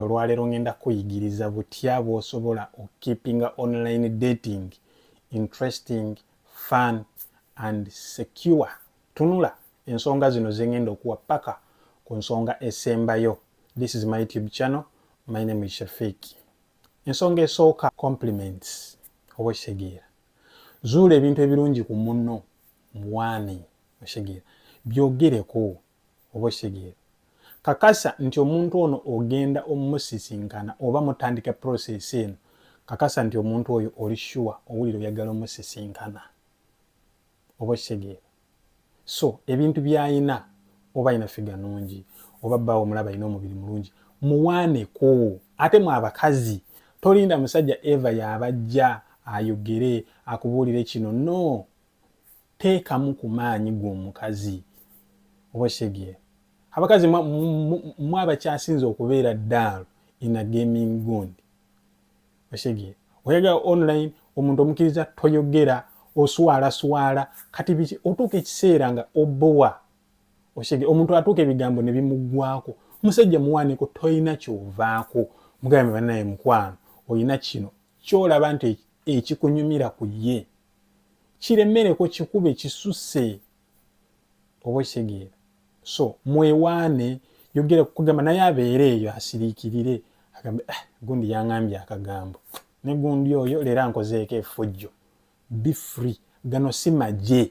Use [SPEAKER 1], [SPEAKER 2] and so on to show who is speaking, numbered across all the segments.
[SPEAKER 1] Olwaleero ngenda kuyigiriza butya bw'osobola okukeepinga online dating interesting fun and secure. Tunula ensonga zino ze ngenda okuwa paka ku nsonga esembayo. This is my YouTube channel. My name is Shafiq. Ensonga esooka compliments oba okitegeera. Zuula ebintu ebirungi ku munno muwaane okitegeera. Byogereko oba okitegeera kakasa nti omuntu ono ogenda omusisinkana oba mutandika process eno kakasa nti omuntu oyo oli sure owulira oyagala omusisinkana oba okitegeera so ebintu byayina oba ayina figa nungi oba bbaawo omulaba ayina omubiri mulungi muwaaneko ate mu abakazi tolinda musajja eva yabajja ayogere akubuulire kino no teekamu ku maanyi g'omukazi oba okitegee abakazi mwe abakyasinze okubeera daalu in a gaming gund okitegee oyagala online omuntu omukiriza toyogera oswala swala kati biki otuuka ekiseera nga obowa okitegee omuntu atuuka ebigambo ne bimuggwako musajja muwaaniko tolina kyovaako mugambe banaye mukwano olina kino kyolaba nti ekikunyumira ku ye kiremereko kikube kisuse oba okitegeera so mwewaane yogera kukugamba naye abeere eyo asiriikirire agambe ah, gundi yangambye akagambo ne gundi oyo leero ankozeeko efujjo be free gano si magye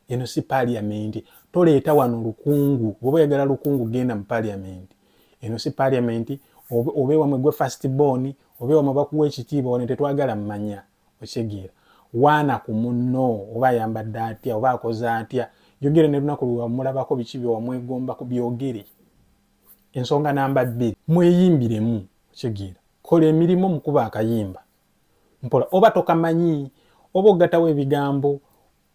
[SPEAKER 1] eno si paliamenti toleeta wano lukungu oba oyagala lukungu genda mu paliamenti eno si paliamenti obe wamwe gwe fast born obe wamwe bakuwa ekitiibwa wano tetwagala mmanya okitegeera waana ku munno oba ayambadde atya oba akoze atya yogere ne lunaku lwewamulabako biki byewamwegomba ku byogere ensonga namba bbiri mweyimbiremu okitegeera kola emirimu mukuba akayimba mpola oba tokamanyi oba ogatawo ebigambo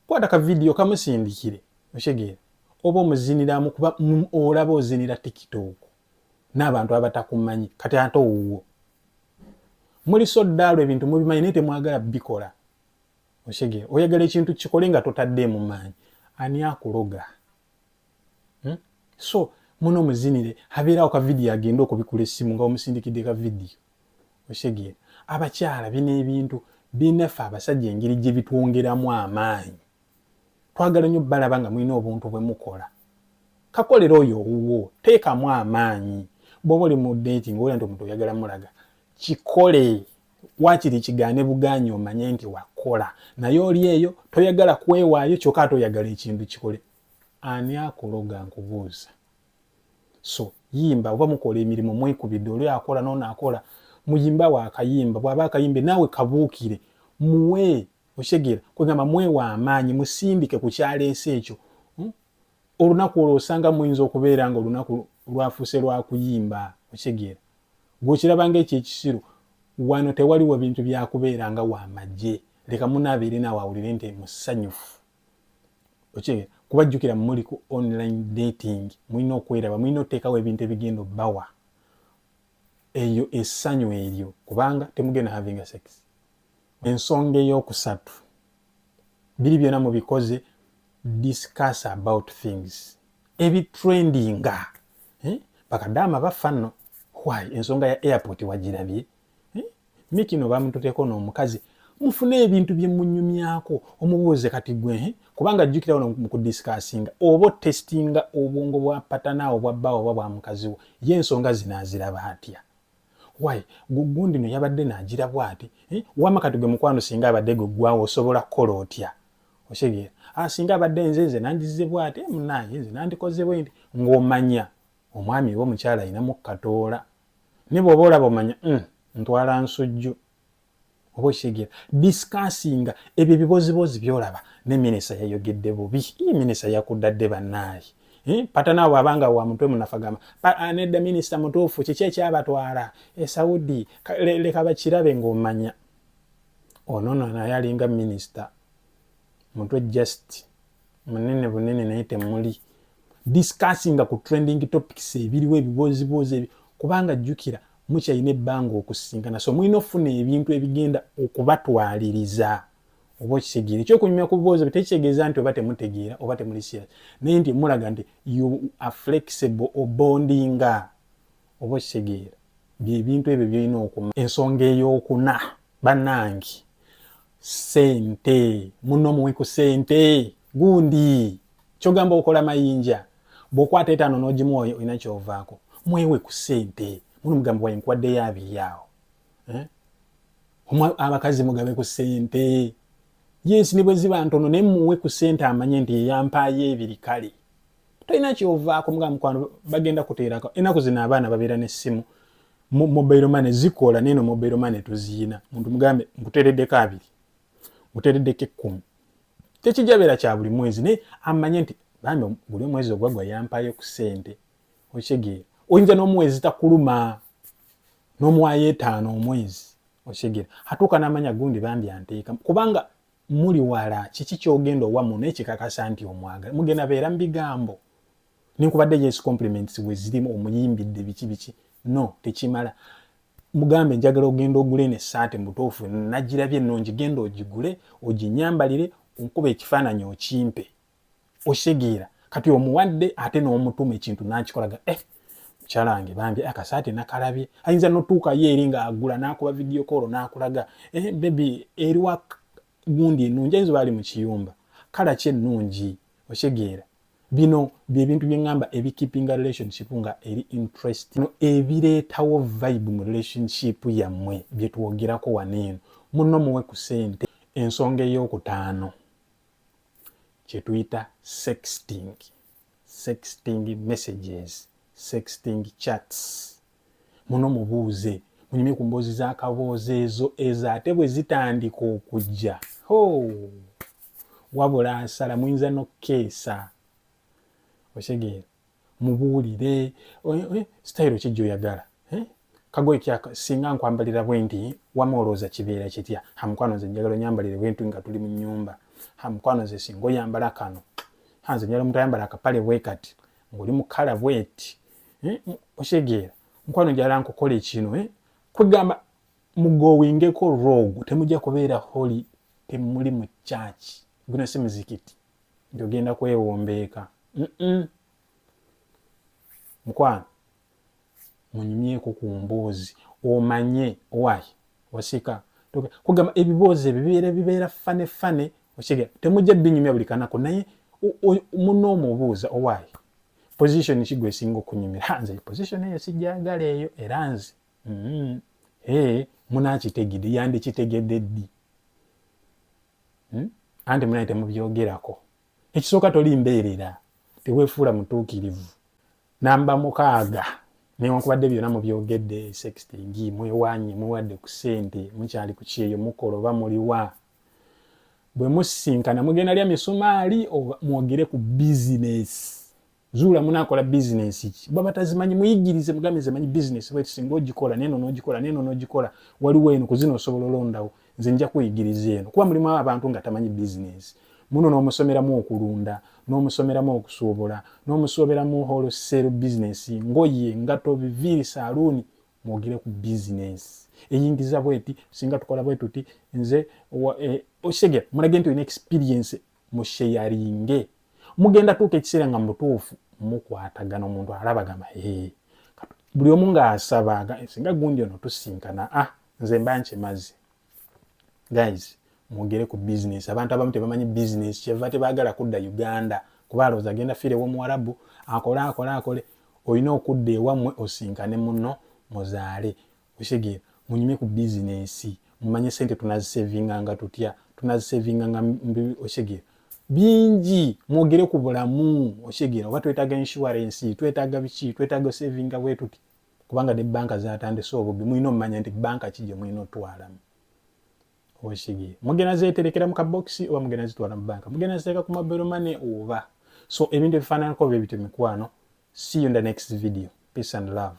[SPEAKER 1] kwata ka vidiyo kamusindikire okitegeera oba omuziniramu kuba olaba ozinira tiktok n'abantu abatakumanyi kati ate owuwo muli so ddaalo ebintu mubimanyi naye temwagala bikola oshege oyagala ekintu kikole nga totaddeemu maanyi ani akuloga hmm? so muno muzinire habeerawo ka vidiyo agenda okubikula essimu nga omusindikidde ka vidiyo oshege abakyala bino ebintu binaffe abasajja engeri gye bitwongeramu amaanyi twagala nnyo balaba nga mulina obuntu bwe mukola kakolera oyo owuwo teekamu amaanyi bwoba oli mu deti nga olya nti omuntu oyagala mulaga kikole wakiri kigaane bugaanyi omanye nti wakola naye oli eyo toyagala kwewaayo kyokka ate oyagala ekintu kikole ani akuloga nkubuuza so yimba oba mukola emirimu mwekubidde oli akola noono akola muyimba wakayimba bwaba akayimbe naawe kabuukire muwe okitegeera kwegamba mwewa amaanyi musindike ku kyaleese ekyo hmm? olunaku olwo osanga muyinza okubeera nga olunaku lwafuuse lwakuyimba okitegeera gwekiraba nga ekyo ekisiru wano tewaliwo bintu byakubeera nga wamagye leka munaabeere naawe awulire nti musanyufu okitegeera kuba jjukira muli ku online dating mulina okweraba mulina okuteekawo ebintu ebigenda obbawa eyo essanyu eryo kubanga temugenda having a sex Ensonga ey'okusatu, biri byona mubikoze discuss about things ebitrendinga eh? bakadaama baffa nno why ensonga ya airport wagirabye eh? mikino bamututeko n'omukazi mufune ebintu bye munyumyako omubuuze kati gwe eh? kubanga jjukira wano mu kudisikasinga oba otestinga obwongo bwa patana obwa bbawo oba bwa mukazi wo ye ensonga zino aziraba atya why gugundi no yabadde nagira bwati eh? wama kati gwe mukwano singa abadde gwe gwawo osobola kukola otya okitegera ah, singa abadde nze nze nandize bwati eh, munange nze nandikoze bwendi ng'omanya omwami wo mukyala alinamu katoola ne bw'oba olaba omanya mm, ntwala nsujju oba okitegeera discussinga ebyo ebiboziboozi byolaba ne minisa yayogedde bubi ye minisa yakuddadde bannaayi eh, patana abo abanga wa mutwe munafagamba ah, nedda minisita mutuufu kiki ekyabatwala esaudi eh, leka bakirabe ngaomanya onono naye alinga minisita mutwe just munene bunene naye temuli discussinga ku trending topics ebiriwo ebibooziboozi ebi kubanga jjukira mukyalina ebbanga okusisinkana so mulina okufuna ebintu ebigenda okubatwaliriza oba okitegeera ekyokunyumya ku biboozi bwe tekitegeeza nti oba temutegeera oba temuli serious naye nti mulaga nti you are flexible obondinga oba okitegeera byebintu ebyo byolina okuma ensonga eyokuna banange sente muno omuwi ku sente gundi kyogamba okola mayinja bwokwata etaano nogimu olina kyovaako mwewe ku sente muno mugamba waye nkwaddeyo abiyaawo eh? abakazi mugabe ku sente yes ne bwe ziba ntono naye muwe ku sente amanye nti yeyampaayo ebiri kale tolina kyovaako muga mukwano bagenda kuteerako enaku zino abaana babeera nessimu mobile money zikola neno mobile money tuziyina muntu mugambe nkutereddeko abiri nkutereddeko ekkumi tekijabeera kya buli mwezi naye amanye nti bambi buli omwezi ogwagwa yampayo ku sente okitegeera oyinza n'omwezi takuluma n'omuwayo etaano omwezi okitegeera atuuka n'amanya gundi bambi anteeka kubanga muli wala kiki kyogenda owa muno ekikakasa nti omwagala mugenda beera mubigambo nenkubadde yes compliments wezirimu omuyimbidde biki biki no tekimala mugambe njagala ogenda ogule eno esaati mubutuufu nagirabye ennungi genda ogigule oginyambalire onkuba ekifaananyi okimpe oshigiira kati omuwadde ate n'omutuma ekintu nakikolaga eh, mukyala wange bambi akasaati eh, nakalabye ayinza notuukayo eri ng'agula n'akuba vidiyo koolo n'akulaga eh, bebi eriwa gundi ennungi ayinza oba ali mu kiyumba kala ki ennungi okitegeera bino byebintu byeŋŋamba ebikipinga relationship nga eri interest no ebireetawo vibe mu relationship yammwe byetwogerako wano eno munno muwe ku sente ensonga ey'okutaano kye tuyita sexting sexting messages sexting chats muno mubuuze munyumye ku mboozi z'akaboozi ezo ezo ate bwe zitandika okujja ho wabula nsala muyinza n'okukeesa osegeera mubuulire sitayiro ki gyoyagala kagoye kyaka singa nkwambalira bwenti wama olowooza kibeera kitya ha mukwano nze njagala onyambalire bwenti nga tuli mu nyumba ha mukwano nze singa oyambala kano ha nze njagala omuntu ayambala akapale bwekati ng'oli mu kala bweti okitegeera mukwano njagala nkukola ekino kwegamba mugowingeko rogu temujja kubeera holi temuli mu kyaki guno si muzikiti nti ogenda kwewombeeka mukwano munyumyeko ku mboozi omanye owayi osika kugamba ebiboozi ebyo bibeera bibeera fane fane okige temujja binyumya buli kanako naye muna omubuuza owayi position ki gwesinga okunyumira nze position eyo sijagala eyo era nze mm-hmm. munakitegede yandikitegede ddi hmm? anti munaye temubyogerako ekisooka toli mbeerera tewefuula mutuukirivu namba mukaaga newankubadde byona mubyogedde sexting mwewanye mwewadde ku sente mukyali ku kyeyo mukola oba muliwa bwe musisinkana mugenda lya misumaali mwogere ku bizinesi zuula munakola bizinensi ki baba tazimanyi muyigirize mugambe nze manyi bizinensi bweti singa ogikola neno nogikola neno nogikola waliwo eno kuzina osobola olondawo nze nja kuyigiriza eno kuba mulimu abantu nga tamanyi bizinensi muno nomusomeramu okulunda nomusomeramu okusuubula nomusoberamu holosero bizinensi ngoye ngato biviiri saluuni mwogere ku bizinensi eyingiza bweti singa tukola bwetuti nze e, okitegera mulage nti olina experiensi musheyaringe mugenda tuuka ekiseera nga mubutuufu mukwatagana omuntu alaba gamba ee buli omu ng'asaba singa gundi ono tusinkana a ah, nze mba nkimazi guys mwogere ku bizinesi abantu abamu tebamanyi bizinesi kyeva tebaagala kudda uganda kuba alowooza agenda fiire womuwarabu akole akole akole olina okudda ewammwe osinkane muno muzaale okitegeera munyumye ku bizinensi mumanye sente tunazisevinganga tutya tunazisevinganga okitegeera bingi mwogere ku bulamu okitegeera oba twetaaga inshuwarensi twetaaga biki twetaaga osevinga bwetuti kubanga ne banka zatandise obubbi mulina omumanya nti banka ki gyemulina otwalamu okitegeera mugenda zeterekera mu kabokisi oba mugenda zitwala mu banka mugenda ziteeka ku mobile money oba so ebintu ebifaananako bebityo mikwano see you in the next video peace and love